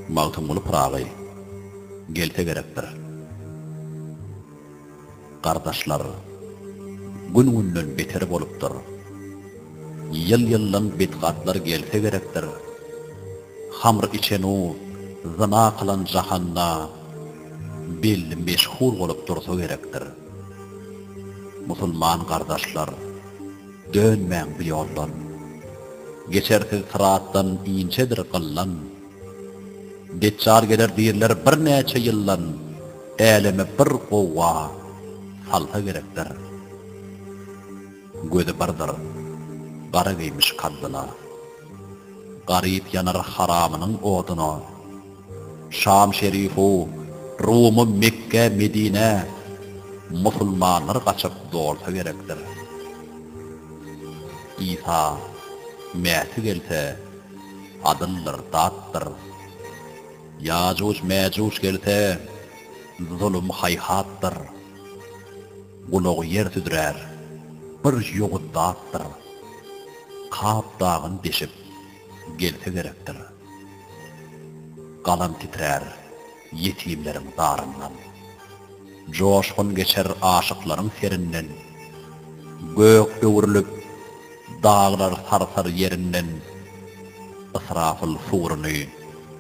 Magtymguly Pyragy gelse gerekdir. Gardaşlar, gün-günden beter bolupdyr. Ýyl-ýyldan bidgatlar gelse gerekdir. Hamr içen-u, zyna kylan jahanda belli meşhur bolup dursa gerekdir. Musulman gardaşlar, dönmäň bu ýoldan. Geçersiz syratdan inçedir gyllan. Deçjal geler diýrler birnäçe ýyldan, äleme bir gowga salsa gerekdir. Gözi birdir, gara geýmiş kaddyna. Garyp ýanar haramynyň oduna. Şam şerifu, Rumy, Mekge, Medine, Musulmanlar gaçyp dolsa gerekdir. Isa, Mäsi gelse, adyldyr, datdyr. Ýajuj, Mäjuj gelse, zulum, haýhatdyr. Gulagy ýer südrär, bir ýogyn zatdyr. Kap dagyn deşip, gelse gerekdir. Galam titrär, ýetimleriň zaryndan. Joşgun geçer aşyklaryň serinden. Gök öwrülip, daglar sarsar ýerinden. Ysrafyl suruny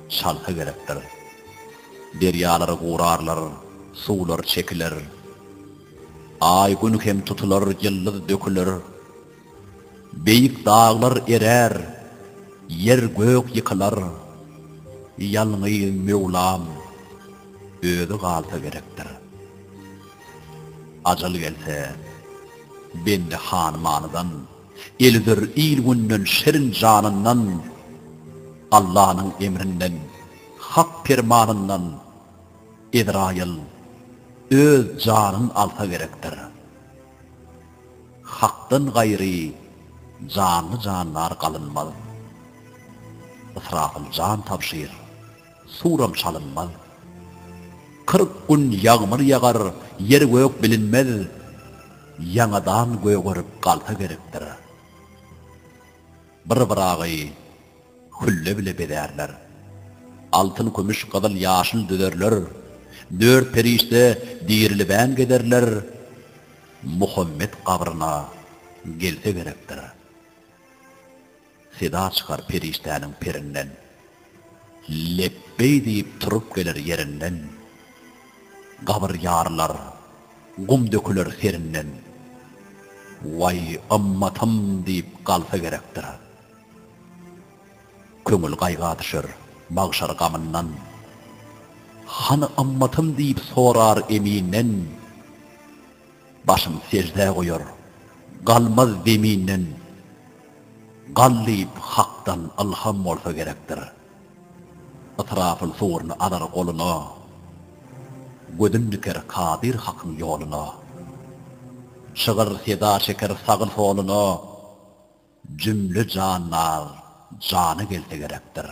çalsa gerekdir. Derýalary gurarlar, suwlar çekiler. Aý, Gün hem tutular, ýyldyz döküler. Beýik daglar erär, ýer-gök ýykylar. Ýalňy Möwlam Özi galsa gerekdir. Ajal gelse, bendi hanymanydan, el üzer il-günden, şirin janyndan. Allanyň emrinden Hak permanyndan Ezraýyl öz janyn alsa gerekdir. Hakdan gaýry janly jandar galynmaz. Ysrafyl jan tabşyr, suram çalynmaz. Kyrk gün ýagmyr ýagar, ýer-gök bilinmez. Ýaňadan gögerip galsa gerekdir. Bir Ybragy. Hülle bile bezärler. Altyn, kümüş, gyzyl, ýaşyl düzerler. Dört perişde dirilibem gezerler. Muhammet gabryna gelse gerekdir. Seda çykar perişdäniň perinden. Lepbeý diýip turup geler ýerinden. Gabyr ýarylar, gum döküler serinden. Waý, ymmatym diýip galsa gerekdir. Köňül gaýga düşer magşar gamyndan. Hany ymmatym diýip sorar Eminden. Başyn seždä goýar, galmaz zeminden. Gal diýip Hakdan ylham bolsa gerekdir. Ysrafyl suguryny alar goluna. Gözün diker Kadyr Hakyň ýoluna. Şygyr seda çeker sagy-soluna. Jümle jandar jana gelse gerekdir.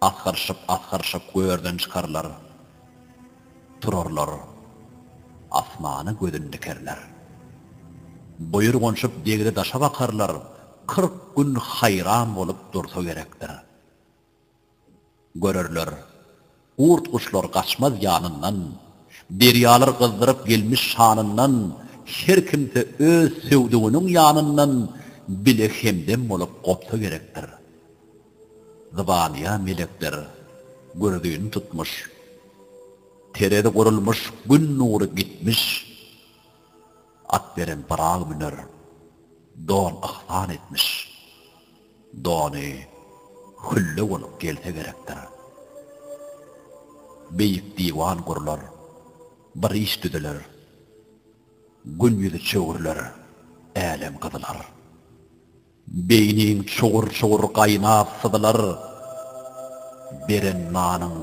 Asgyryşyp-asgyryşyp görden çykarlar. Turarlar. Asmana gözün dikerler. Buýurganşyp degre-daşa bakarlar, kyrk gün haýran bolup dursa gerekdir. Görerler, gurt-guşlar gaçmaz ýanyndan, derýalar gyzdyryp gelmiş şanyndan, her kimse öz söwdüginiň ýanyndan bile hemdem bolup gopsa gerekdir. Zybanyýa melekler gürzini tutmuş, terezi gurulmuş, gün nury gitmiş. At beren Pyragy müner, don yhsan etmiş. Dony hülle bolup gelse gerekdir. Beýik diwan gurlar, bir iş düzüler. Gün ýüzi çöwrüler, älem gyzylar. Beýniň çugur-çugur gaýnap syzylar, Beren nanyň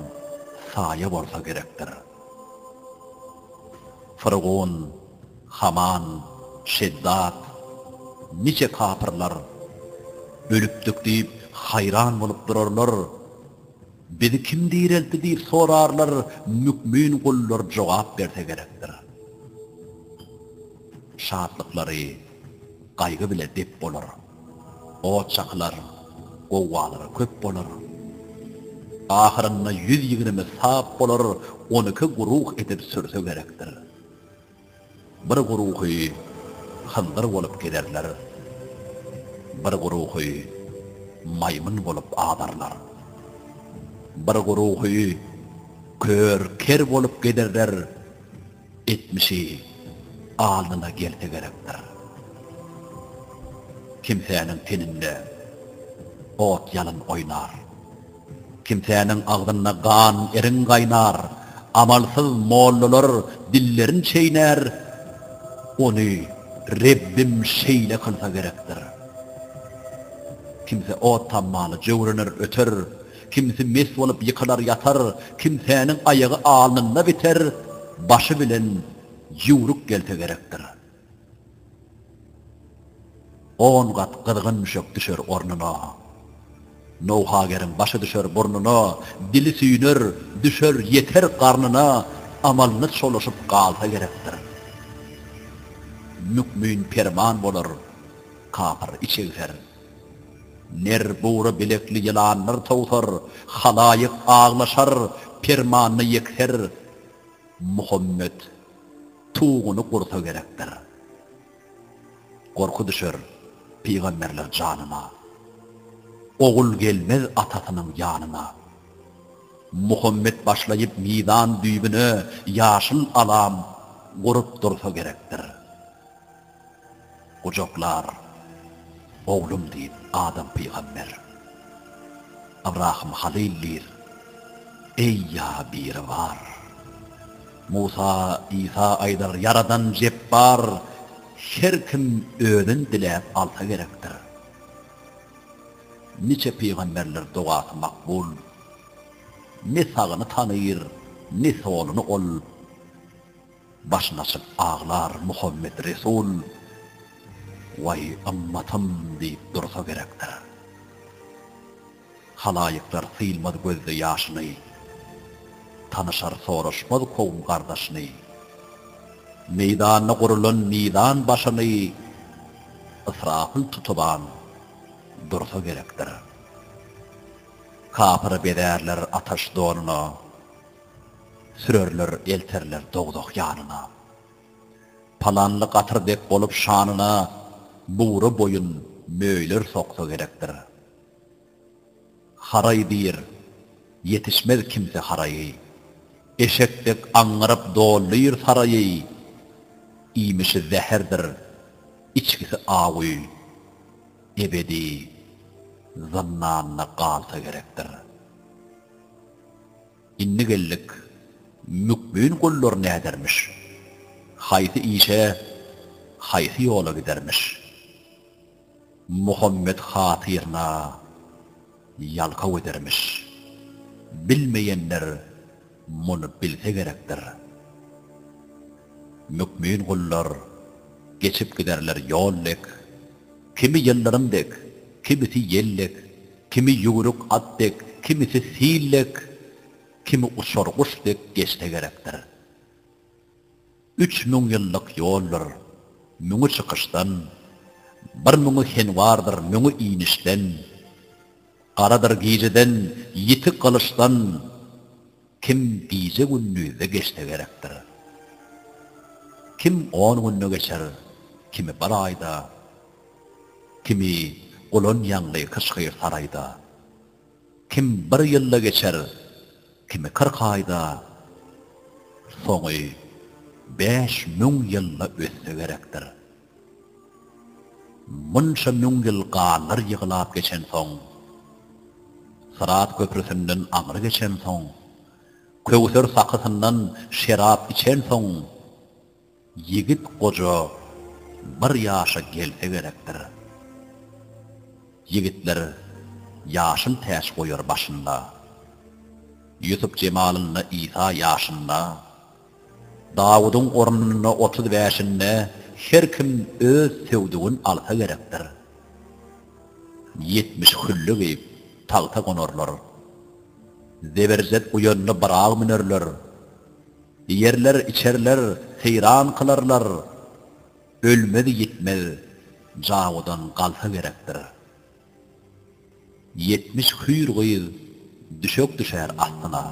saýa bolsa gerekdir. Fyrgun, Haman, Şeddad, niçe kapyrlar Ölüpdik diýip, haýran bolup durarlar, Bizi kim direltdi diýip sorarlar, Mükmin gullar jogap berse gerekdir. Şatlyklary Gaýgy bile dep bolar. Ot çakylar, gowgalar köp bolar. Ahyrynda ýüz ýigrimi sap bolar, on iki guruh edip sürse gerekdir. Bir guruhy hyndyr bolup gezerler, bir guruhy maýmyn bolup azarlar. Bir guruhy kör, ker bolup gezerler. Etmişi alnyna gelse gerekdir. Kimsäniň teninde ot-ýalyn oýnar. Kimsäniň agzynda gan, irin gaýnar. Amalsyz mollalar dillerin çeýnär. Ony Rebbim şeýle kylsa gerekdir. Kimse ot tammaly jöwrener öter, Kimsi mes bolup ýykylar ýatar, kimsäniň aýagy alnynda biter, başy bilen ýüwrük gelse gerekdir. On gat gyzgyn müşek düşer ornuna. Nowhageriň başy düşer burnuna, dili süýner, düşer, ýeter garnyna, amalyny çolaşyp galsa gerekdir. Mükmin perman bolar, kapyr içegser. Ner bugra bilekli ýylanlar towsar, Halaýyk aglaşar, permanda ýekser. Muhammet tuguny gursa gerekdir. Gorky düşer pygamberler janyna, Ogul gelmez atasynyň ýanyna. Muhammet başlaýyp mizan düýbüne, Ýaşyl alam gurup dursa gerekdir. Gujaklar, oglum diýip, Adam pygamber. Ybrahym halyl diýr, Eý, ýa Biribar! Musa, Isa aýdar, Ýaradan jepbar! Her kim özün diläp alsa gerekdir. Niçe pygamberler dogasy makbul. Ne sagyny tanyr, ne soluny ol. Başyn açyp aglar Muhammet Resul, Waý, ymmatym diýip dursa gerekdir. Halaýyklar sylmaz gözde ýaşyny, Tanyşar soraşmaz kowum gardaşyny. Meýdanda gurulan mizan başyny Ysrapyl tutuban dursa gerekdir. Kapyry bezärler ataş donuna, Sürerler, elterler dogzah ýanyna. Palanly gatyr dek bolup şanyna Bugra boýun möýler soksa gerekdir. Haraý diýr, ýetişmez kimse haraýy. Eşek dek aňňyryp dolýr saraýy. Iýmişi zäherdir, içgisi awuý. Ebedi zyndanda galsa gerekdir. Indi geldik, mükbin gullar nädermiş? Haýsy işe, haýsy ýola gidermiş? Muhammet hatyryna ýalkaw edermiş. Bilmeýänler muny bilse gerekdir. Mükbin gullar geçip giderler ýol dek, kimi ýyldyrym dek, kimisi ýel dek. Kimi ýüwrük at dek, kimisi sil dek, kimi uçar guş dek geçse gerekdir. Üç müň ýyllyk ýoldur, müňi çykyşdan, bir müňi henwardyr, müňi inişden, garadyr gijeden, ýiti gylyçdan, Kim gije gündizde geçse gerekdir. Kim on günde geçer, kimi bir aýda, kimi gulan ýaňly hyş-hyr saraýda. Kim bir ýylda geçer, kimi kyrk aýda, soňy bäş müň ýylda ötse gerekdir. Munça müň ýyl ganlar ýyglap geçensoň, Syrat köprüsinden aňry geçensoň, Köwser sakysyndan şerap içensoň, Ýigit goja bir ýaşa gelse gerekdir. Ýigitler ýaşyl täç goýar başynda. Ýusup jemalynda Isa ýaşynda. Dawudyň ornuna otuz bäşinde her kim öz söwdügin alsa gerekdir. Ýetmiş hülle geýip, tagta gonarlar. Zeberjet uýanda bir agy münerler. Ýerler, içerler, seýran kylarlar. Ölmez-ýitmez Dawudan galsa gerekdir. Ýetmiş hüýr gyz düşek düşer astyna,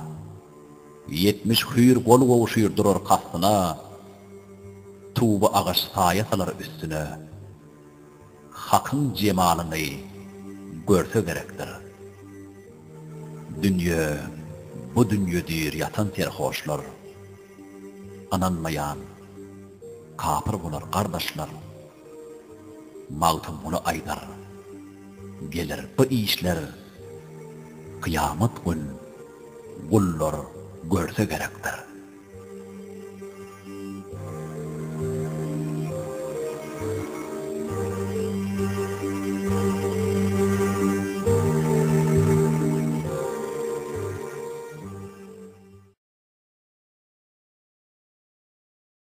Ýetmiş hüýr gol gowşyr durar kastyna, Tuba agaç saýa salar üstüne, Hakyň jemalyny görse gerekdir. Dünýe, bu dünýe diýr ýatan serhoşlar, Ynanmaýan kapyr bolar gardaşlar. Magtymguly aýdar, Geler bu işler kyýamat gün gullar görse gerekdir.